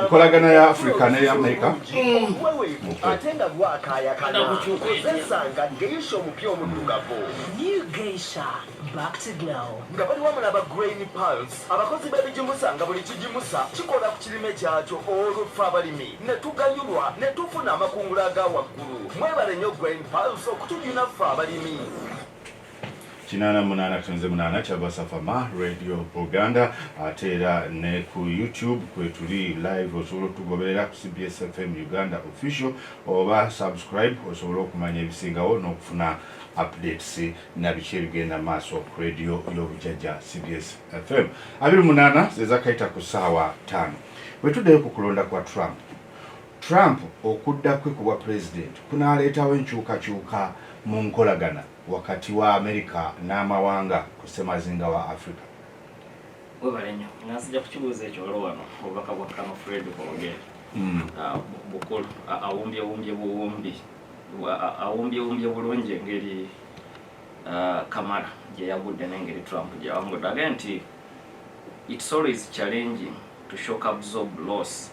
enkolagana ya africa ne ya amerika nga bali wamu naba grain pals abakozi b'ebigimusa nga buli kigimusa kikola ku kirime kyakyo olwo ffe abalimi ne tuganyulwa ne tufuna amakungula aga waggulu mwebale nnyo grain pals okutujuna ffe abalimi kinaana munaana kitonze munaana kyava safama radio buganda ate era ne ku youtube kwetuli live osobola okutugoberera ku cbs fm uganda official oba subscribe osobola okumanya ebisingawo n'okufuna updates na biki ebigenda maaso ku radio y'obujajja cbs fm abiri munaana zezakayita ku saawa taano bwetuddeyo ku kulonda kwa trump Trump okudda kwe ku bwa pulezidenti kunaaleetawo enkyukakyuka mu nkolagana wakati wa Amerika n'amawanga ku ssemazinga wa Afrika? Webale nnyo nga nsija kukibuuza ekyo waliwo wano obubaka bwa Kano Fred Kwogere hmm. ah, bukulu ah, awumbyewumbye buwumbi ah, awumbyewumbye bulungi engeri Kamala gye yagudde n'engeri Trump gye yawangudde agaye nti it's always challenging to shock absorb loss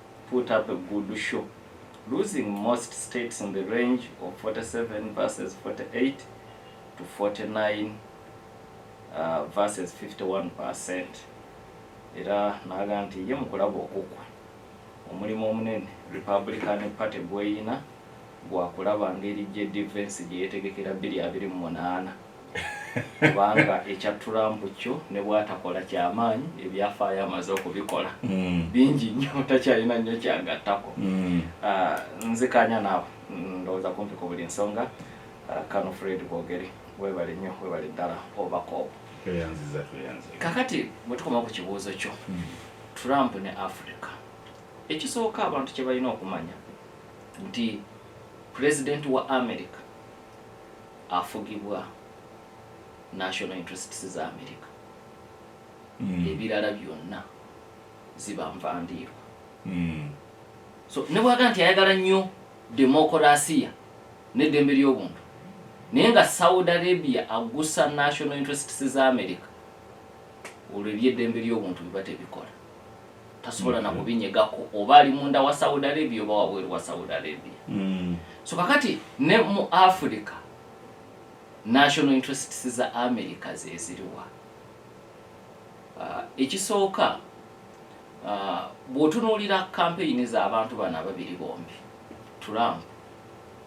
put up a good show losing most states in the range of 47 versus 48 to 49 uh, versus 51 percent era naga nti ye mukulaba okukwa omulimu omunene republican party gweyina gwa kulaba ngeri JD Vance gye yeetegekera bbiri abiri mu munaana kubanga ekya Trump kyo ne bwatakola kyamaanyi ebyafaayo amaze okubikola mm. bingi nnyo takyalina nnyo kyagattako mm. ah, nzikanya naawe ndowooza kumpi ku buli nsonga ah, kano Fred Bogere webale nnyo webale ddala obakoobo kakati bwe tukoma ku kibuuzo kyo mm. Trump ne Africa ekisooka abantu kye balina okumanya nti pulezidenti wa america afugibwa national interests za america mm. ebirala byonna ziba nvandiirwa mm. so ne bwaga nti ayagala nnyo demokolasiya n'eddembe ly'obuntu naye nga saudi arabia agusa national interests za america olwo ebyeddembe ly'obuntu biba tebikola tasobola na kubinyegako oba ali munda wa saudi arabia oba wabweru wa saudi arabia mm. so kakati ne mu africa national interests za america zeziriwa uh, ekisooka uh, bwotunuulira kampeyini z'abantu bano ababiri bombi trump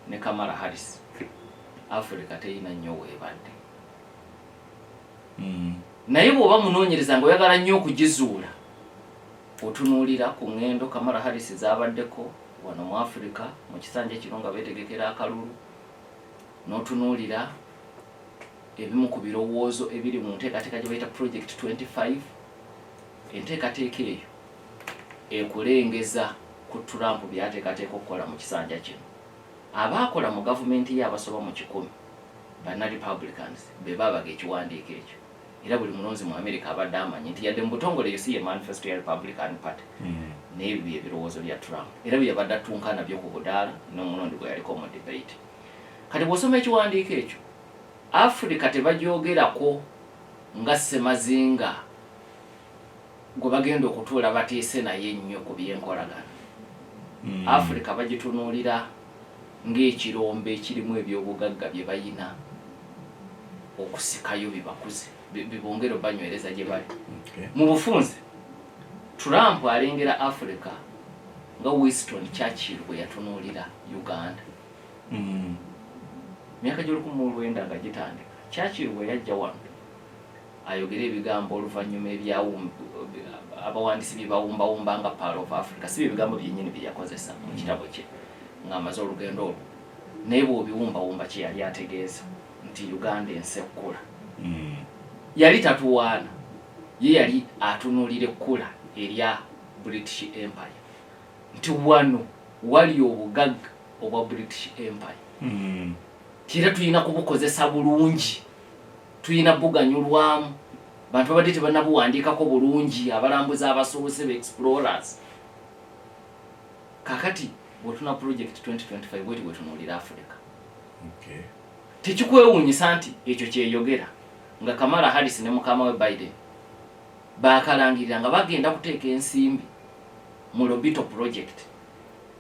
ne kamara harris africa teyina nnyo weebadde mm. naye bw'oba munoonyereza nga oyagala nnyo okugizuula otunuulira ku ŋŋendo kamala harris zaabaddeko wano mu afirika mu kisanja kino nga beetegekera akalulu n'otunuulira ebimu ku birowoozo ebiri mu nteekateeka gye bayita project 25 enteekateeka eyo ekulengeza ku turampu byateekateeka okukola mu kisanja kino Abaakola mu gavumenti ye abasoba mu kikumi banna Republicans be baabaga ekiwandiiko ekyo era buli mulonzi mu Amerika abadde amanyi nti yadde mu butongole eyo si ye manifesto ya Republican Party hmm. naye ebyo bye birowoozo bya Trump era bye yabadde attunka nabyo ku budaala n'omulundi gwe yaliko mu debate. Kati bw'osoma ekiwandiiko ekyo Afrika tebagyogerako nga ssemazinga. gwe bagenda okutuula bateese naye ennyo ku byenkolagana hmm. afirika bagitunuulira ng'ekirombe ekirimu ebyobugagga bye bayina okusikayo bibakuze bibongere obanywereza gye bali mu bufunze trump alengera afirika nga winston churchill bwe yatunuulira uganda hmm. myaka gy'olukumi mu olwenda nga gitandika churchill bwe yajja wano ayogera ebigambo oluvannyuma abawandiisi bye bawumbawumba nga paal of africa si byebigambo byennyini bye yakozesa mu kitabo kye ng'amaze olugendo olwo naye bw'obiwumbawumba kye yali ategeeza nti uganda ensi ekkula hmm. yali tatuwaana ye yali atunuulira ekkula erya british empire nti wano wali obugagga obwa british empire hmm. kira tulina kubukozesa bulungi tulina buganyulwamu bantu babadde tebanabuwandiikako bulungi abalambuzi abasoose be explorers kakati bwotuna project 2025 bweti bwetunuulira afurika tekikwewuunyisa nti ekyo kyeyogera nga kamala harris ne mukama we biden bakalangirira nga bagenda kuteeka ensimbi mu lobito project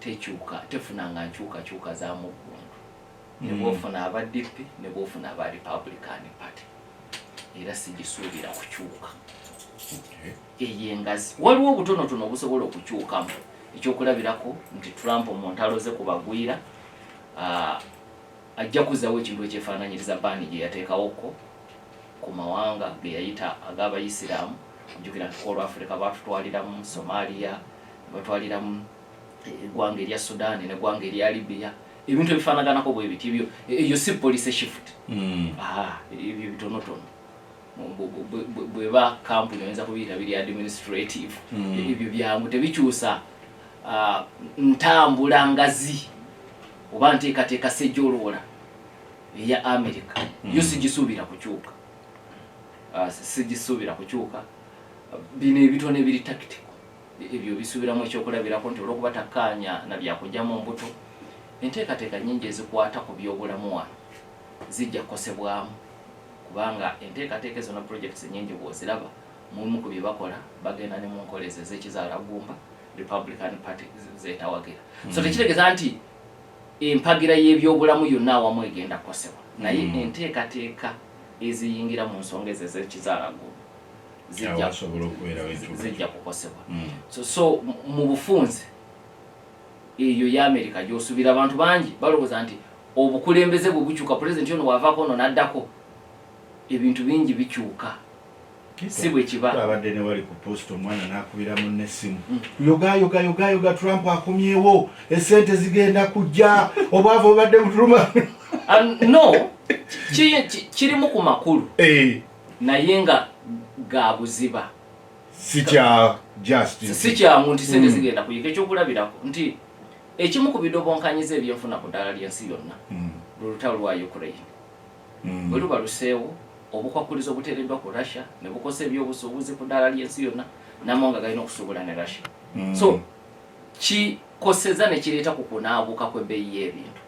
tekyuka tefunanga nkyukakyuka za muggundu ne mm. bwofuna aba DP ne bwofuna aba Republican Party era sigisuubira kukyuka eyo engazi waliwo obutonotono obusobola okukyukamu ekyokulabirako nti Trump mu ntalo ze ku bagwira ah, ajja kuzawo ekintu ekyefaananyiriza baani gye yateekawokko ku mawanga ge yayita ag'abayisiraamu ojjukira nti ku olwafirika baatutwaliramu Somalia batwaliramu eggwanga erya sudaani neggwanga erya libiya ebintu ebifanaganako bwe biti ebyo eyo si policy shift hmm. ah, ebyo bitonotono bweba kampuni oyinza kubiyita biri administrative hmm. ebyo byangu tebikyusa ah, ntambula ngazi oba nteekateeka sejoloola eya america hmm. yo sigisuubira kukyuka ah, sigisuubira kukyuka bino ebitono ebiri tactical ebyo bisubiramu ekyokulabirako nti olwokuba takkaanya na byakujja mu mbuto enteekateeka nyingi ezikwata ku byobulamu wano zijja kukosebwamu kubanga enteekateeka ezo na projects nyingi bwoziraba mulimu ku bye bakola bagenda ne mu nkola ezo ezekizaala gumba republican party zetawagira mm. so tekitegeeza nti empagira y'ebyobulamu yonna awamu egenda kukosebwa naye mm. enteekateeka eziyingira mu nsonga ezo ezekizaala gumba zijja kukosebwa mm. so so mu bufunze eyo ya amerika gyosubira abantu bangi balowooza nti obukulembeze bwe bukyuka pulezidenti ono wavako ono naddako ebintu bingi bikyuka si bwe kibaabadde ne wali ku post omwana n'akubira munne essimu mm. yogayogayogayoga trump akomyewo esente zigenda kujja obwavu obadde butuluma ah, no kirimu ku makulu eh. naye nga ga buziba sikya just sikyamu nti sente hmm. zigenda kuyika ekyokulabirako nti ekimu ku bidobonkanyiza ebyenfuna ku ddaala ly'ensi yonna hmm. lulutalo lwa ukraine hmm. bwe luba luseewo obukwakkulizo obuteereddwa ku russia ne bukosa ebyobusuubuzi ku ddaala ly'ensi yonna namawanga galina okusuubula ne russia so kikoseza ne kireeta ku kunaabuuka kw'ebbeeyi y'ebintu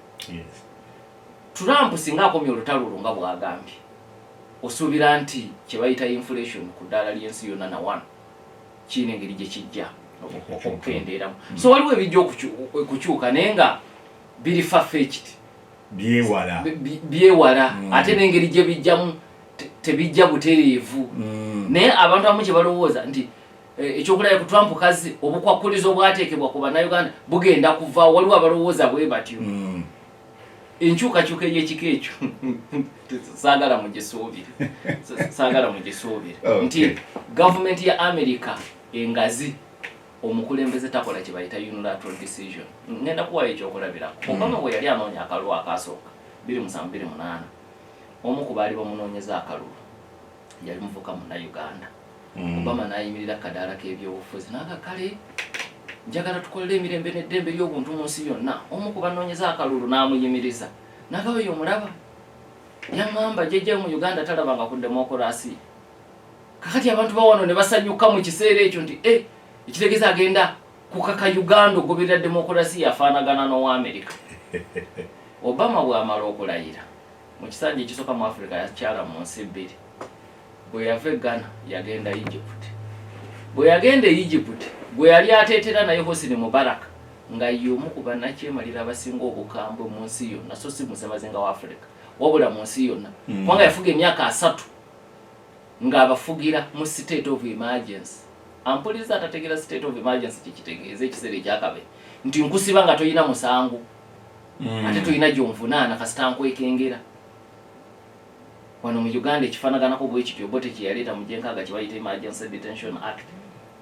Trump singa akomya olutalo olwo nga bwagambye, osuubira nti kyebayita inflation ku ddaala ly'ensi yonna na wano kirina engeri gye kijja okukendeeramu. Hmm. So waliwo ebijja okukyuka naye nga biri fafekiti byewala byewala hmm. ate n'engeri gye bijjamu tebijja butereevu hmm. naye abantu abamu kye balowooza nti Eh, ekyokulaya ku Trump kazi obukwakkulizo obwateekebwa ku bannayuganda bugenda kuva waliwo abalowooza bwe batyo mm. enkyukakyuka ey'ekika ekyo saagala mugisuubire saagala mugisuubire oh, nti gavumenti ya amerika engazi omukulembeze takola kye bayita unilateral decision ngenda kuwayo ekyokulabirako hmm. obama bwe yali anoonya akalulu akaasooka biri musanvu biri munaana omu ku baali bamunoonyeza akalulu yali muvuka muna uganda mm. obama nayimirira kadaala kebyobufuzi naga kale njagala tukolere emirembe neddembe lyobuntu mu nsi yonna omu ku banoonyeza akalulu n'amuyimiriza nagawo yo omulaba yaŋamba jejja mu uganda talabanga ku demokurasi kakati abantu bawano ne basanyuka mu kiseera ekyo nti e ekitegeeza agenda kukaka uganda ogoberera demokurasi yafaanagana n'owa amerika obama bwamala okulayira mu kisanja ekisooka mu africa yakyala mu nsi bbiri bwe yava e ghana yagenda egypt bwe yagenda e egypt gwe yali ateetera naye hosini mubaraka nga yomu ku banakyemalira abasinga obukambwe mu nsi yonna so si musemazinga wa africa wabula mu nsi yonna hmm. kubanga yafuga emyaka asatu ng'abafugira mu state of emergency ampuliza atategeera state of emergency kyekitegeeza ekiseera ekyakabe nti nkusiba nga tolina musango mm. ate tulina gyonvunaana kasita nkwekengera wano mu uganda ekifanaganako bwekityo bote kyeyaleeta mu gyenkaaga kyebayita emergency detention act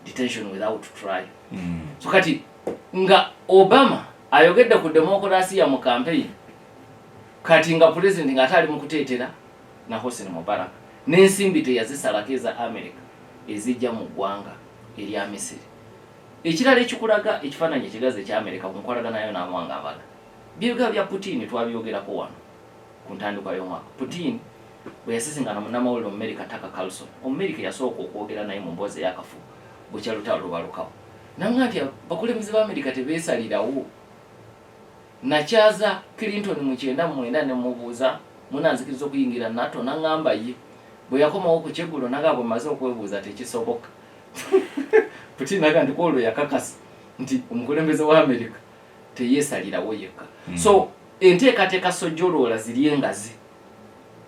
detention without trial mm. so kati nga obama ayogedde ku demokulasiya mu kampeyini kati nga pulezidenti nga ate ali mu kuteetera na hosen mubarak n'ensimbi teyazisalako eza america ezijja mu ggwanga erya misiri Ekirala ekikulaga ekifaananyi ekigazi ekyamereka ku nkolagana yo n'amawanga amalala by'ebigambo bya Putin twabyogerako wano ku ntandikwa y'omwaka. Putin bwe yasisinkana munnamawulire Omumerika Tucker Carlson, Omumerika eyasooka okwogera naye mu mboozi ey'akafu bukya lutalo lubalukawo, n'amugamba nti abakulembeze ba Amerika tebeesalirawo. Nakyaza Clinton mu kyenda mu mwenda ne mmubuuza munaanzikiriza okuyingira NATO n'aŋŋamba ye. Bwe yakomawo ku kyeggulo n'aŋŋamba bwe mmaze okwebuuza tekisoboka. putin aga nti kwolwo yakakasa nti omukulembeze wa america teyesalirawo yekka mm. so enteekateeka sojoloola ziri engazi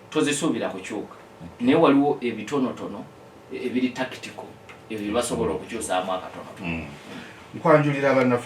tozisuubira kukyuka naye waliwo ebitonotono ebiri tactical ebyo byebasobola okukyusaamu akatono mm. nkwanjulira abanafu